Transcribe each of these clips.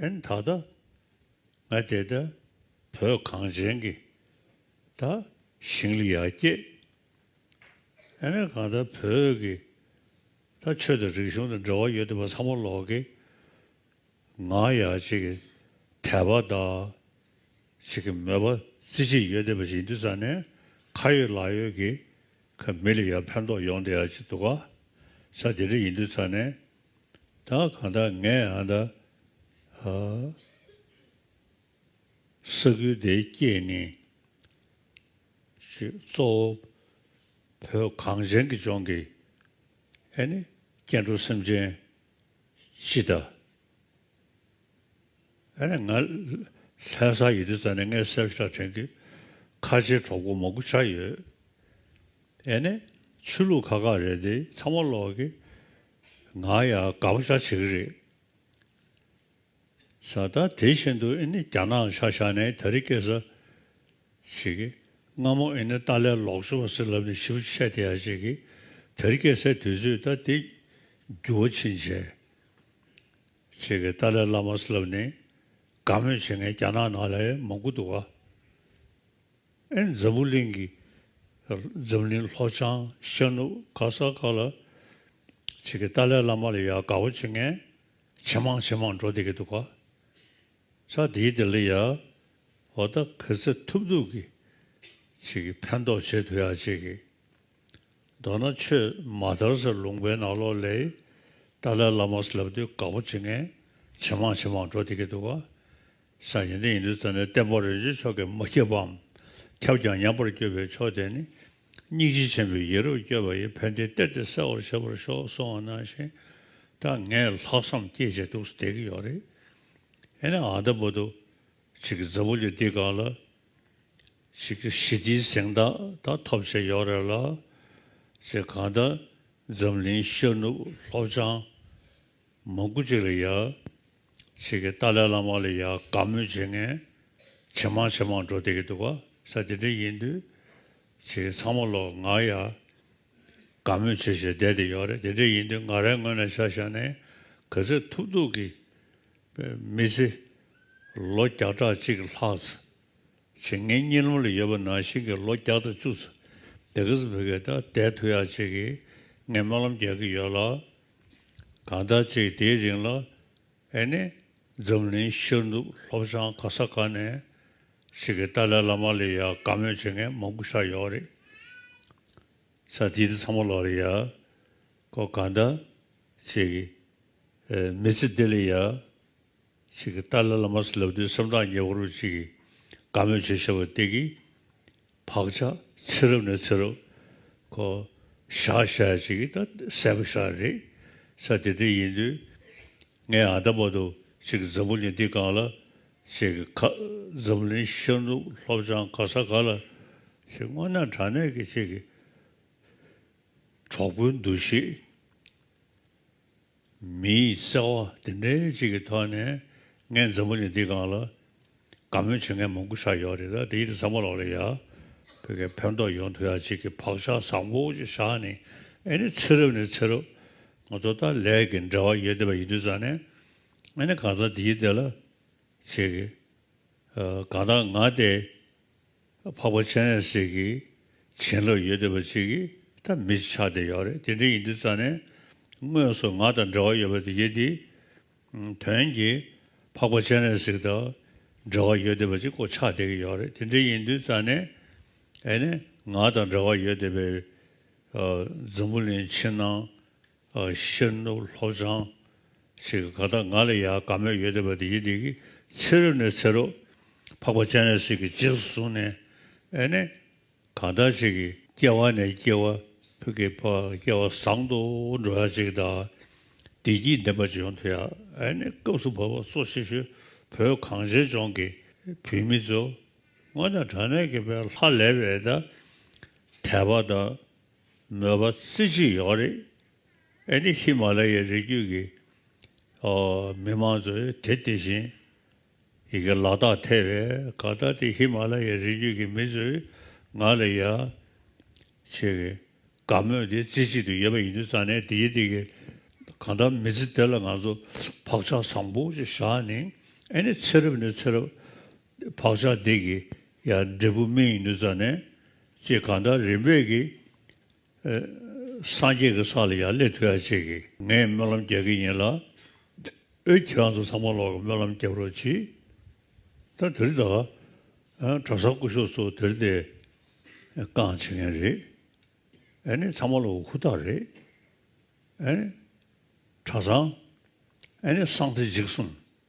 ཨན་ད་ལྟ་ང་དེ་ལྟ་བོད་གངས་ཅན་གྱི་ད་ཞིང་ལ་ཡར་སྐྱེད་ཨེ་ན་གང་ད་བོད་ཀྱི་ད་ཆོས་དང་རིག་གཞུང་དང་འབྲེལ་བ་ཡོད་དེ་བ་ཚང་མ་ལོག་གི་ང་ཡར་སྐྱེད་གི་དད་པ་ད་ཅིག་གི་མོས་པ་རྩི་གཅིག་ཡོད་དེ་བ་ཞིག་འདུས་ཙང་ནས་ཁ་ཡོད་ལག་ཡོད་གི་ཁ་མི་ལ་ཡར་ཕན་ཐོག་ཡོང་དེ་ཡར་ཅིག་འདུག་ག་ས་དེ་འདྲ་ཡིན་འདུས་ཙང་ནས་བདག་གང་དག་ངས་ཧ་ད་ས་ཁུལ་དེའི་སྐྱེས་ནི་ཅེས་གཙོ་བོ་བོད་གངས་ཅན་གྱི་ལྗོངས་ཀྱི་ཨེ་ནི་སྐྱེ་འགྲོ་སེམས་ཅན་སྤྱི་དང། ཨ་ནི་ང། ལྷའི་ས་ཡི་དེ་ཙམ་ནས་ངས་གསེར་ཞག་བྲན་གྱི་ཁ་ཆེའི་གྲོགས་པོ་མོག་གུ་ཆགས་ཡོད། ཨེ་ནས། ཆོས་ལུགས་ཁ་ཁ་རེད་དེ་ཚང་མ་ལོག་གི། ང་ཡ་དགའ་པོ་ཆགས་བྱེད་ཀྱི་རེད། ས་ད་དེ་བཞིན་དུ་ཨེ་ནི་རྒྱ་ནག་ཆ་བཞག་ནས་ད་རི་སྐད་ཟ། བྱེད་ཀྱི། སྔ་མོ་ཨེ་ནི་ཏཱ་ལའི་ལོག་སྤྱོད་པ་ཟེར་ལབ་ནས་ཞིབ་ཏུ་ཆས་དེ་ཡ་བྱེད་ཀྱི། ད་རི་སྐད་ཟས་དུས་ཚོད་ད་དེ། འགྱུར་བ་ཕྱིན་བྱས། ཁྱེད་ཀྱིས་ཏཱ་ལའི་བླ་མ་སླེབས་ནས་དགའ་མོས་བྱེད་མཁན་རྒྱ་ནག་ནང་ལས་མང་པོ་འདུག་ག་ཨེ་འཛམ་བུ་གླིང་གི་འཛམ་གླིང་ལྷོ་བྱང་ཤར་ནུབ་ག་ས་ག་ལ་ཁྱེད་ཀྱིས་ཏཱ་ལའི་བླ་མ་ལ་ཡ་དགའ་བོ་བྱེད་མཁན་ཇེ་མང་ཇེ་མང་འགྲོ་བསྡད་ཀྱི་འདུག་ག་ཆ་དེའི་དེ་ལ་ཡ་བ་ད་གེ་ཚེ་ཐུབ་ཐུབ་ཀྱིས་ཁྱེད་ཀྱིས་ཕན་ཐོགས་བྱེད་འདོད་ཡ་བྱེད་ཀྱིས། མདོར་ན་ཆོས་མ་དར་སར་ལུང་པའི་ནགས་ལོག་ལས། ཏཱ་ལའི་བླ་མར་ལབ་དུས་དགའ་པོ་བྱེད་མཁན་ཇེ་མང་ཇེ་མང་འགྲོ་བསྡད་ཀྱི་འདུག་ག་ས་ཡིན་དུས་ཡིན་དུས་རྩ་ནས་བསྟན་པ་རིན་ཆེན་མཆོག་གིས་མ་ཁྱབ་པའམ་ཁྱབ་ཀྱང་ཉམས་པར་སྐྱོད་པའི་ཕྱོགས་དེ་ནི། སྙིང་རྗེ་ཆེན་པོའི་ཡིད་རབ་བསྐྱོད་པ་ཡིས་ཕན་བདེ་སྟེར་ཏེ་གསལ་བར་བྱེད་པར་ཤོག་གསུང་བ་ནང་བཞིན་ད་ངས་ལྷག་བསམ་སྐྱེས་བྱེད་འདུག་སྡད་ཀྱི་ཡོད་རེད། ཨེ་ནས་ཨ་མདའ་འབུ་རྡོ་གཅིག་གི་རྫ་བུ་ལས་འདི་གང་ལ་ཞི་བདེའི་གཟེངས་རྟགས་ད་ཐོབ་བྱས་ཡོད་རེད་ལ། ཅེས་གང་ལྟར་འཛམ་གླིང་ཤར་ནུབ་ལྷོ་བྱང་མང་དགུ་གཅིག་ལ་ཡར། ཞིག་གིས་ཏཱ་ལའི་བླ་མ་ལ་ཡར་དགའ་མོས་བྱེད་མཁན་ཇེ་མང་ཇེ་མང་འགྲོ་བསྡད་ཀྱི་འདུག་ག་ས་དེ་འདྲ་ཡིན་དུས། ཅེས་ཚང་མ་ལོག་ང་ཡར་དགའ་མོས་བྱེད་བྱེད་བསྡད་དེ་ཡོད་རེད་དེ་འདྲ་ཡིན་དུས་ང་རའི་ངོས་ནས་ཆ་བཞག་ནས་ག་ཚད་ཐུབ་ཐུབ་ཀྱིས་པའི་མི་ཚེ་ལོ་བརྒྱ་ཕྲག་གཅིག་ལྷག་ཚེ་བྱེད་ངའི་གཉིད་ལམ་ལ་ཡོད་པ་ནང་བཞིན་གྱི་ལོ་བརྒྱ་དང་བཅུ་ཚེ་འདས་གཟིགས་བོད་སྐད་དང་བདེ་ཐུ་ཡག་བྱེད་ཀྱིས་ངའི་སྨོན་ལམ་རྒྱག་གི་ཡོད་ལ། གང་ལྟར་ཅིག་དེའི་རིང་ལ་ཨེ་ནི་འཛམ་གླིང་ཤར་ནུབ་ལྷོ་བྱང་ག་ས་ག་ནས་ཅིག་གིས་ཏཱ་ལའི་བླ་མ་ལས་ཡག་དགའ་མོས་བྱེད་མཁན་མང་པོ་ཆགས་ཡོད་རེད། ཚ་དེ་དུས་ཚང་མ་ལོག་རེད་ཡ། ཁོ་གང་ལྟར་ཅིག་མི་ཚེ་བདེ་ལེགས་ཡ། ཅིག་གི་ཏཱ་ལའི་བླ་མ་སི་ལབ་དུས་སེམས་ཐག་ཉེ་བོ་རུ་ཅིག་གིས་དགའ་མོས་བྱེད་ཤེས་པ་སྟེ་གི། བག་ཆགས་ཚེ་རབས་ནས་ཚེ་རབས། ཁོ། བཞག་བཞག་ཡ་ཅིག་གི་ད་གསལ་པོ་ཤར་རེད། ས་དེ་འདྲ་ཡིན་དུས། ངས་ཨ་མདའ་པ་དུ་ཅིག་གི་འཛམ་བུ་གླིང་འདི་གང་ལ། ཅིག་གི་ཁ། འཛམ་གླིང་ཤར་ནུབ་ལྷོ་བྱང་ག་ས་ག་ལ། ཅིག་སྔོན་ན་དྲང་གནས་ཀྱི་ཅིག་གི། གྲོགས་པོའི་འདུ་ཤེས། མིའི་བརྩེ་བ་འདི་འདྲའི་གཅིག་གི་ཐོག་ནས་ངའི་མཛའ་མོ་ནི་འདི་གང་ལ་དགའ་མོལ་བྱེད་མཁན་མང་པོ་ཤར་ཡོད་རེད་ད་དེའི་བཟང་པོ་ལག་ལས་ཡག་བོད་སྐད་ཕན་ཐོག་ཡོང་ཐུབ་ཡག་གཅིག་གི་བག་ཆགས་བཟང་པོ་ཅིག་བཞག་ནས་ཨེ་ནི་ཚེ་རབས་ནས་ཚེ་རབས་ང་ཚོ་ད་ལས་ཀྱི་འབྲེལ་བ་ཡོད་བསྡད་པ་ཡིན་དུས་ཙང་ནས་ཨེ་ནི་གང་ཟག་འདིའི་སྡེ་ལ་བྱེད་གི་གང་ལྟར་ང་དེ། འཕགས་པ་སྤྱན་རས་གཟིགས་ཀྱི་བྱིན་རླབས་ཡོད་འདོད་པ་ཅིག་གིས་ད་མི་ཆགས་བསྡད་ཡོད་རེད་དེ་འདྲ་ཡིན་དུས་རྩ་ནས་དངོས་སུ་ང་དང་འབྲེལ་བ་ཡོད་པ་དེ་རྒྱལ་དེའི་དོན་གྱིས་འཕགས་པ་སྤྱན་རས་གཟིགས་དང་འབྲེལ་བ་ཡོད་འདོད་པ་ཅིག་གོ་ཆགས་བསྡད་ཀྱི་ཡོད་རེད་དེ་འདྲ་ཡིན་དུས་རྩ་ནས་ཨེ་ནས་ང་དང་འབྲེལ་བ་ཡོད་འདོད་པའི་འཛམ་བུ་གླིང་ཕྱི་ནང་ཤེར་ནུབ་ལྷོ་བྱང་ཞེས་ག་དག་ང་ལ་ཡང་དགའ་མོས་ཡོད་བསྡད་པ་དེ་ཡིན་འདི་གི་ཚེ་རབས་ནས་ཚེ་རབས་འཕགས་པ་སྤྱན་རས་གཟིགས་ཀྱི་རྗེས་སུ་བཟུང་ནས་ཨེ་ནས་གང་དག་ཅིག་གིས་སྐྱེ་བ་ནས་སྐྱེ་བ་ཕུད་ཀྱི་བར་སྐལ་བ་བཟང་དུ་འགྲོ་ཡ་ཅིག་དང་བདེ་སྐྱིད་ལྡན་པ་ཅིག་ཡོང་ཐུབ་ཡ་ཨེ་ནས་སྐབས་སུ་བབ་པ་གཙོ་ཆེ་ཤོས་བོད་གངས་ཅན་ལྗོངས་ཀྱི་བུད་མེད་ཚོ་སྔོན་དང་དྲ་གནས་ཀྱི་བའི་ལྷ་ལས་བའི་དད་པ་དང། མོས་པ་རྩེ་གཅིག་ཡོད་རེད། ཨེ་ནི་ཧི་མ་ལ་ཡའི་རི་རྒྱུད་ཀྱི་མི་མང་ཚོས་དེ་དེ་བཞིན་ཡི་གེ་ལ་དག་ཐལ་བས་ག་ལྟ་སྟེ་ཧི་མ་ལ་ཡའི་རི་རྒྱུད་ཀྱི་མི་ཚོས་ང་ལ་ཡ། ཆེ། གི་དགའ་མོས་དེ་རྩེ་གཅིག་ཏུ་ཡོད་པ་ཡིན་དུས་རྩ་ནས་དེ་གི་དེ་གི་གང་ལྟར་མི་ཚེ་དེ་ལ་ང་ཚོ་བག་ཆགས་བཟང་པོ་ཅིག་བཞག་ནི་ཨེ་ནི་ཚེ་རབས་ནས་ཚེ་རབས་བག་ཆགས་འདི་གི་ཡང་འབྲས་བུ་སྨིན་ཡིན་ནུས་ཙམ་ནས་ཅེས་གང་ལྟར་རིམ་པས་ཀྱི། སངས་རྒྱས་ཀྱི་ས་ལ་ཡང་སླེབས་ཐུབ་ཡག་ཅེས་ཀྱི་ངས་སྨོན་ལམ་རྒྱག་གི་ཡིན་ལ། ཨོའི་ཁྱེད་རང་ཚོ་ཚང་མ་ལོག་གི་སྨོན་ལམ་རྒྱབ་རོགས་གྱིས། ད་དིར་ད། གྲྭ་ས་སྐུ་ཞོགས་ཚོ་དིར་དེ། རྐང་བྱེད་མཁན་རེད། ཨེ་ནི་ཚང་མ་ལོག་གི་ཧུར་ཐག་རེད། ཨེ་ནི། གྲྭ་ཚང། ཨེ་ནི་སངས་རྒྱས་འཇིགས་གསུམ།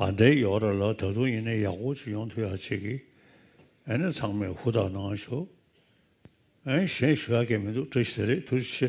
ཨ་འདའི་ཡོག་ར་ལ་ད་དུང་ཡིན་ན་ཡག་པོ་ཅིག་ཡོང་ཐུག་ཡག་ཅིག་གི་ཨེ་ནས་ཚང་མས་ཧུར་ཐག་གནང་ཞོག་ཨེ་གཞན་ཞུ་ཡག་གི་མི་འདུག་བཀྲ་ཤིས་རེད་ཐུགས་རྗེ་ཆེ།